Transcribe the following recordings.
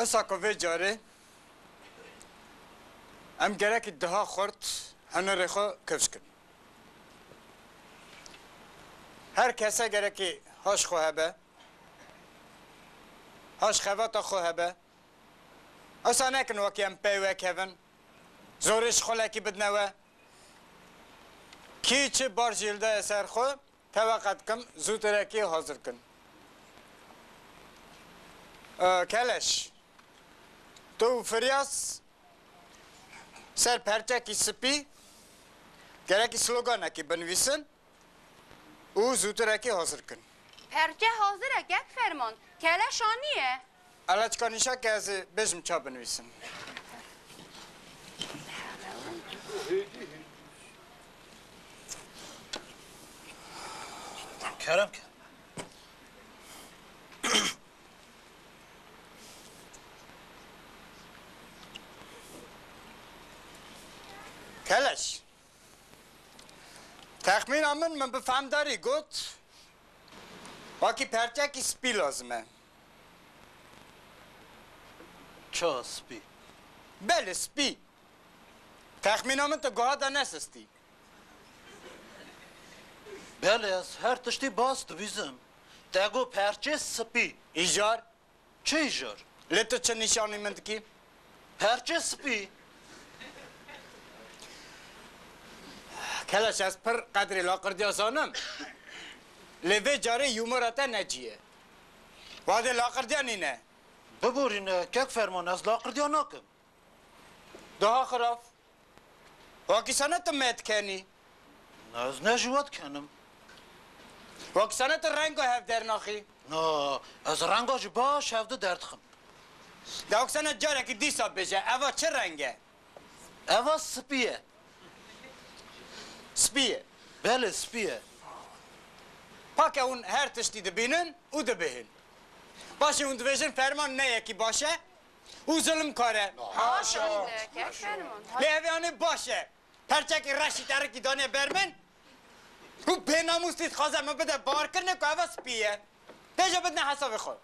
Esako vê carê em gerekî diha xurt hunerê xwe kevşkin. Her kese gerekî haş xwe hebe, haş xevata xwe hebe. Ewsa nekin wekî em pey wekevin, zorê şixulekî bidine we. Kî çi bar jîldaye ser xwe, Teva qet kim zûtirekî hazir kin. Keleş, tu û Firyas ser perçekî spî gerekî sloganekî binivîsin û zûtirekî hazir kin. Perçe hazir e kek ferman, keleş anî ye. Ala çika nîşa ke ez ê bêjim ça binivîsim. Kerem ke. Keleş. Texmîna min min bi fehmdarî got wakî perçekî spî lazim e. Ço spî? Belê spî! Texmîna min tu guha de nesistî. Belê ez her tiştî baz dibîzim. Te got perçê spî. Îcar? Çi îcar? Lê tu çi nîşanî min dikî? Perçê spî. Keleş ez pir qedrê laqirdiya zanim. Lê vê carê humora te ne cî ye. Vadê laqirdiya nîne. Biborîne kek ferman ez laqirdiya nakim. Daha xiraf. Wakî sene ti me dikenî. Na ez ne ji we dikenim. Wakî sene ti renga hev dernaxî. Na ez renga jî baş hev di derdixim. Dawik sene carekî dîsa bêje eva çi reng e? Eva spî ye. Spî ye. Belê spî ye. Pake hûn her tiştî dibînin û dibêhîn. Paşê hûn dibêjin ferman ne yekî baş e û zilm kar e. Baş e. Lê evê anê baş e. Perçekî reşî terikî daniye ber min û bênamûsî dixwaze min bide barkirine ku eva spî ye. Tê jê bidine hesabê xwe.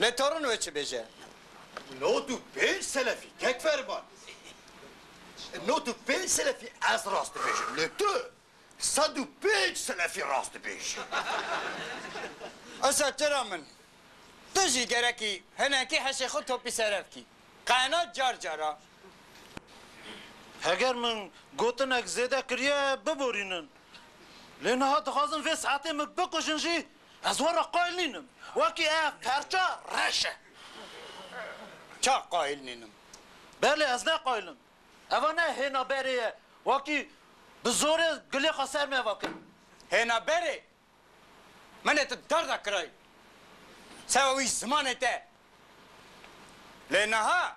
Lê torun wê çi bêje? Nod û pênc selefî kek ferman. Nod û pênc selefî ez rast dibêjim. Lê tu sed û pênc selefî rast dibêjî. Esa tu ra min. Tu jî gerekî hinekî heşê xwe topî ser ev kî. Qehna car car a. Heger min gotinek zêde kiriye biborînin. Lê niha dixwazin vê saetê min bikujin jî Ez we re qayîl nînim. Wekî ev perça reş e. Ça qayîl nînim? Belê ez ne qayîl im. Eva ne hêna berê ye. Wekî bi zorê gilê xwe ser me ve kir. Hêna berê? Min ê tu darda kirayî. Sewa wî zimanê te. Lê niha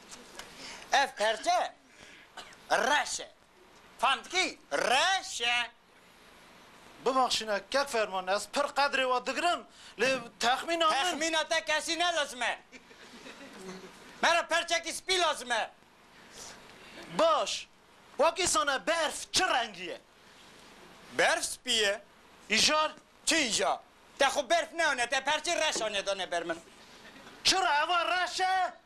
Ev perçe reş e. Fam dikî? Reş e. Bibaxşîne kek ferman ez pir qedrê we digirim lê texmîna min. Texmîna te kesî ne lazim e. Me re perçekî spî lazim e. Baş. Wekî sane berf çi rengî ye? Berf spî ye. Îjar? Çi îja? Te xwe berf neanê te perçê reş anê dane ber min. Çira eva reş e?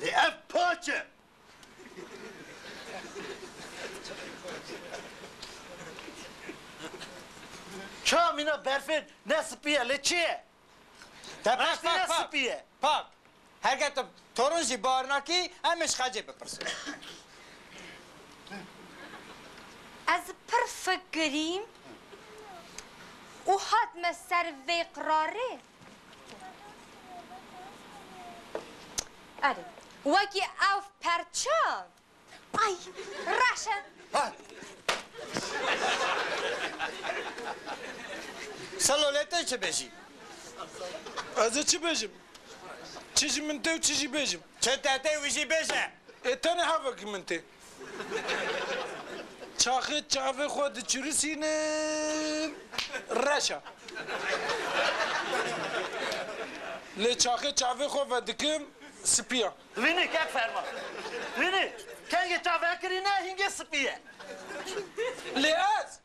Lê ev paç e. Ça mîna berfê ne spî ye lê çi ye? Te berfî ne spî ye. Pak. Herge tu torun jî bar nakî em ê ji xecê bipirsin. Ez pir fikirîm û hatime ser vê qirarê. Erê, wekî ev perça. Ay, reş e. Ha! Selo lê te çi bêjî? Ez ê çi bêjim? Çi ji min tê û çi jî bêjim? Çi te tê wî jî bêje. Ê tenê hevekî min tê. Çaxê çavê xwe diçirisînim reş e. Lê çaxê çavê xwe vedikim spî ye. Vinî kek ferma. Vinî kengê çavekirîne hîngê spî ye. Lê ez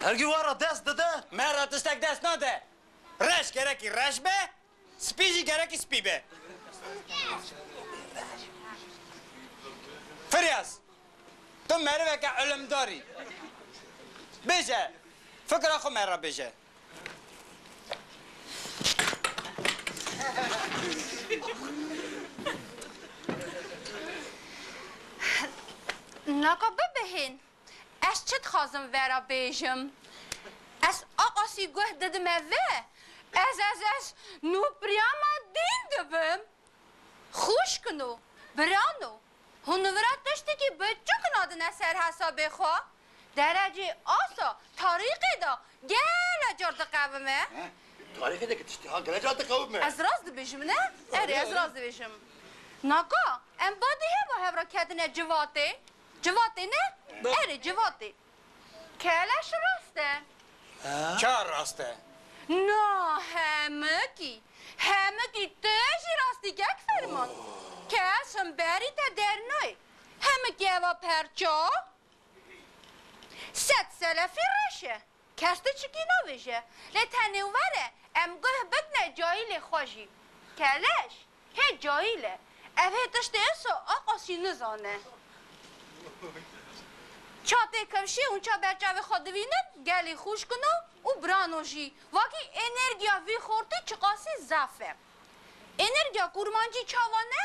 Her gî were dest dide. Merra tiştek dest nade. Reş gerekî reş be, spî jî gerekî spî be. Firyas, tu meriveke ilimdar î. Bêje, fikra xwe merra bêje. Naka bibihîn. Ez çi dixwazim vera bêjim? Ez aqasî guh didime ve, ez ez ez nûpiriya ma dîn dibim. Xwişkin û biran û hunvira tiştekî biçûk nadine ser hesabê xwe, derecê asa tarîqê de gele car diqewime. He, tarîqê de ki tiştê ha gele car diqewime. Ez rast dibêjim ne? Erê, ez rast dibêjim. Naka, em badî heva hev re ketine civatê. Civatê ne? Erê civatê. Keleş rast e. Ka rast e? Na, hemikî. Hemikî tu jî rastî kek ferman. Kes him berî te der nayê. Hemikî eva perça? Sed selefî reş e. Kes diçikî navêje, lê tenê were em guh bidne cahîlê xwe jî. Keleş, hê cahîl e. Ev hê tiştê iso a qasî nizane. Ça tê kevşî û ça ber çavê xwe divînin, gelê xûşkino û birano jî. Vakî enerjiya vî xortî çiqasî zaf e. Enerjiya kurmancî çawa ne?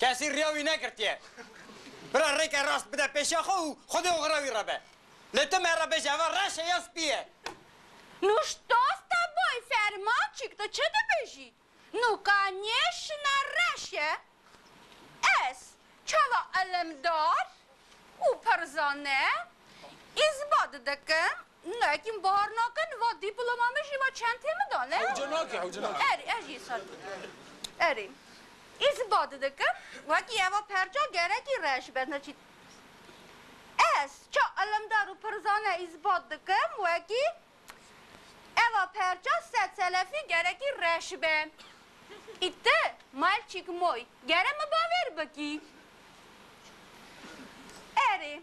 Kesî riya wî nekirtiye. Bira rêke rast bide pêşiya xwe û xwedê oxira wî re be. Lê tu me re bêje eva reş e ya spî ye? Nu stosta boy fermaçîk tu çi dibêjî? Nu ka nê şina reş e? Ez, çawa elemdar û pirzane, îsbat dikim Ne hîn bahar nake ne va dîploma min jî va çentê min da ne. Hewce nake hewce nake. Erê ez jî sar dikim. Erê î zî badi dikim wekî eva perça gerekî reş be ne çî Ez ça ilimdar û pirzane î zî badi dikim wekî Eva perça sed selefî gerekî reş be. Î ti mayl çîk moy gere min bavêr bikî. Erê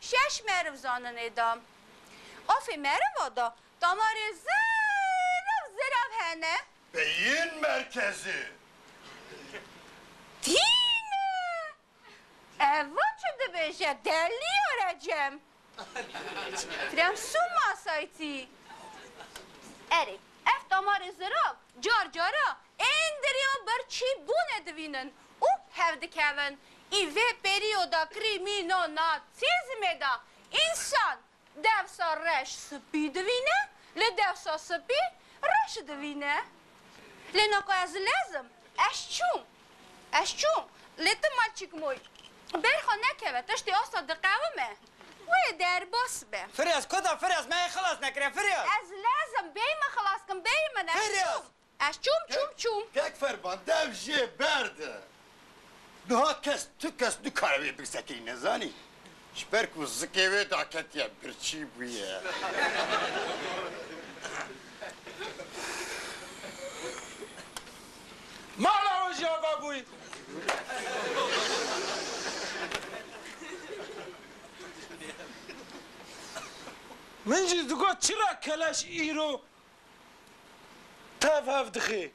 Şeş meriv zanine da. Afê meriva da damarê zirav zirav hene. Beyin merkezi. Tîne! Eva çi dibêje? Delî ya Recem. Krem sû masaytî. Erê, ev damarê zirav car cara ên dirê û birçî bûne divînin. û hev dikevin. Ê vê perîyoda kirî mîna Nâtsîzmê de însan dewsa reş spî divîne, lê dewsa spî reş divîne. Lê na ku ez lez im, ez çûm, ez çûm, lê ti ma çik moy berxa nekeve, tiştê asta diqewime, wê derbas be. Firyaz, Ku da Firyaz, me yê xilas nekiriye, Firyaz! Ez lez im, bêyî min xilas kin, bêyî min, ez çûm. Firyaz, Ez çûm, çûm, çûm. Kek Ferman dev jê ber di. Niha kes, tu kes nikare wê birsekî nezanî. Ji ber ku zikê wê daketiye birçî bûye. Mala we jî ava bûy. Min jî digot çira keleş îro Tev hev dixê.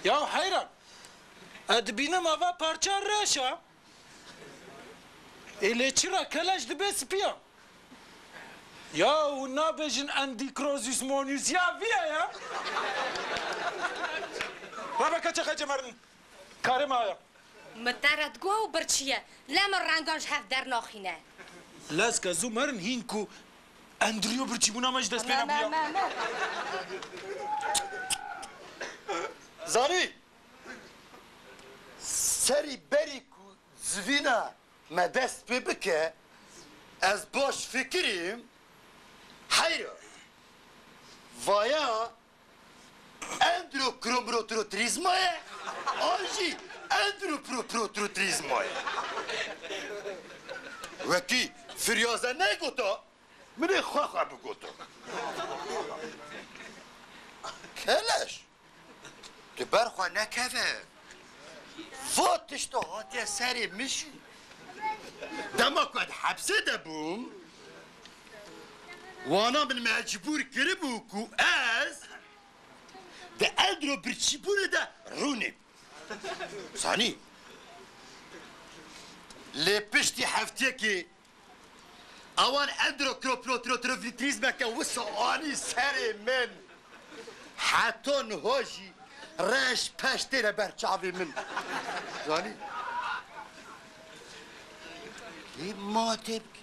Ya heyran. Ez dibînim ava parça reş a. Ê lê çira keleş dibe spiyan. Ya hûn nabêjin Endîkrozîsmonîs ya vî ye ya? Rebe keçe xece merdin. Karê me aya. Mi te re diguha û birçiye. Lê min rengan ji hev dernaxîne. Lez ke zû merin hîn ku Endriyo birçîbûna me ji dest pê nebû ya. Zanî! Serî berî ku zivîna me dest pê bike, ez baş fikirîm heyra vaya. Endrokromrotrotrîzma ye an jî endroproprotrotrîzma ye. Wekî firyaze negota min ê xwe xwe bigota. Keleş di ber xwe nekeve va tişta hatiye serê min jî. Dema ku ez hepsê de bûm Wana min mecbûr kiribû ku ez di Eldro birçîbûnê de rûnim. Zanî. Lê piştî hefteyekê awan Eldro kroprotrotrovitrîzmeke wisa anî serê min. Heta niha jî reş peş têne ber çavê min. Zanî. Lê ma tê bikî.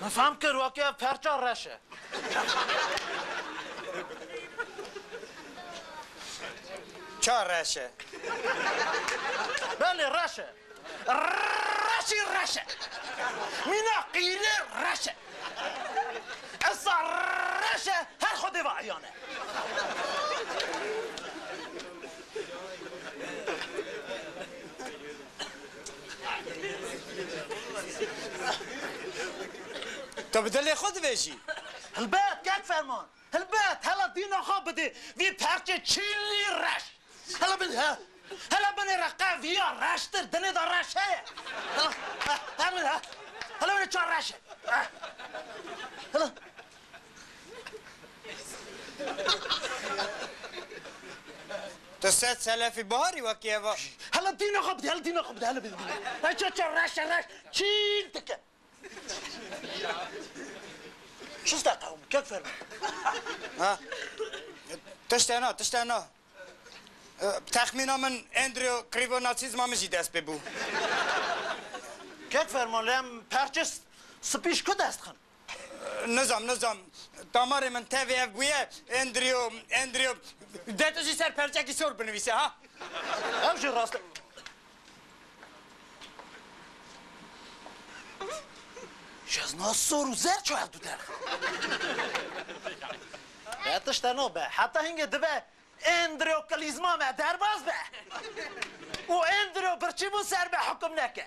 Min fehm kir wekî ev perça reş e. Ça reş e? Belê reş e. Reşî reş e. Mîna qîrê reş e. Esa reş e her xwedê ve eyan e. Tu bi dilê xwe dibêjî. Hilbet kek ferman. Hilbet hela dîna xwe bidê vî perçê çîlî reş. Hela bin he. Hela binê re qe viya reştir dinê de reş heye. Hela he. Hela binê çar reş e. Hela. Tu sed selefî biharî wekî eva. Hele dîna xwe bidî, hele dîna xwe bidî, hele bidî dîna. Hey çe çe reş e reş çîl dike. Şifte qewim, kek fermi. Ha. Tişte na, tişte na. Texmîna min Andrew Krivo Nazîzma min jî dest pê bû. Kek ferman lem perçe spîş ku dest xin. Nizam, nizam. Damarê min tevê ev bûye. Andrew, Andrew. De tu jî ser perçekî sor binivîse ha. Ew jî rast e. Jezna sor û zer çû hevdu derxe. Te tişt heno be. Heta hingê dibe Andrew klîzma me derbas be û Andrew birçî bû ser me hukum neke.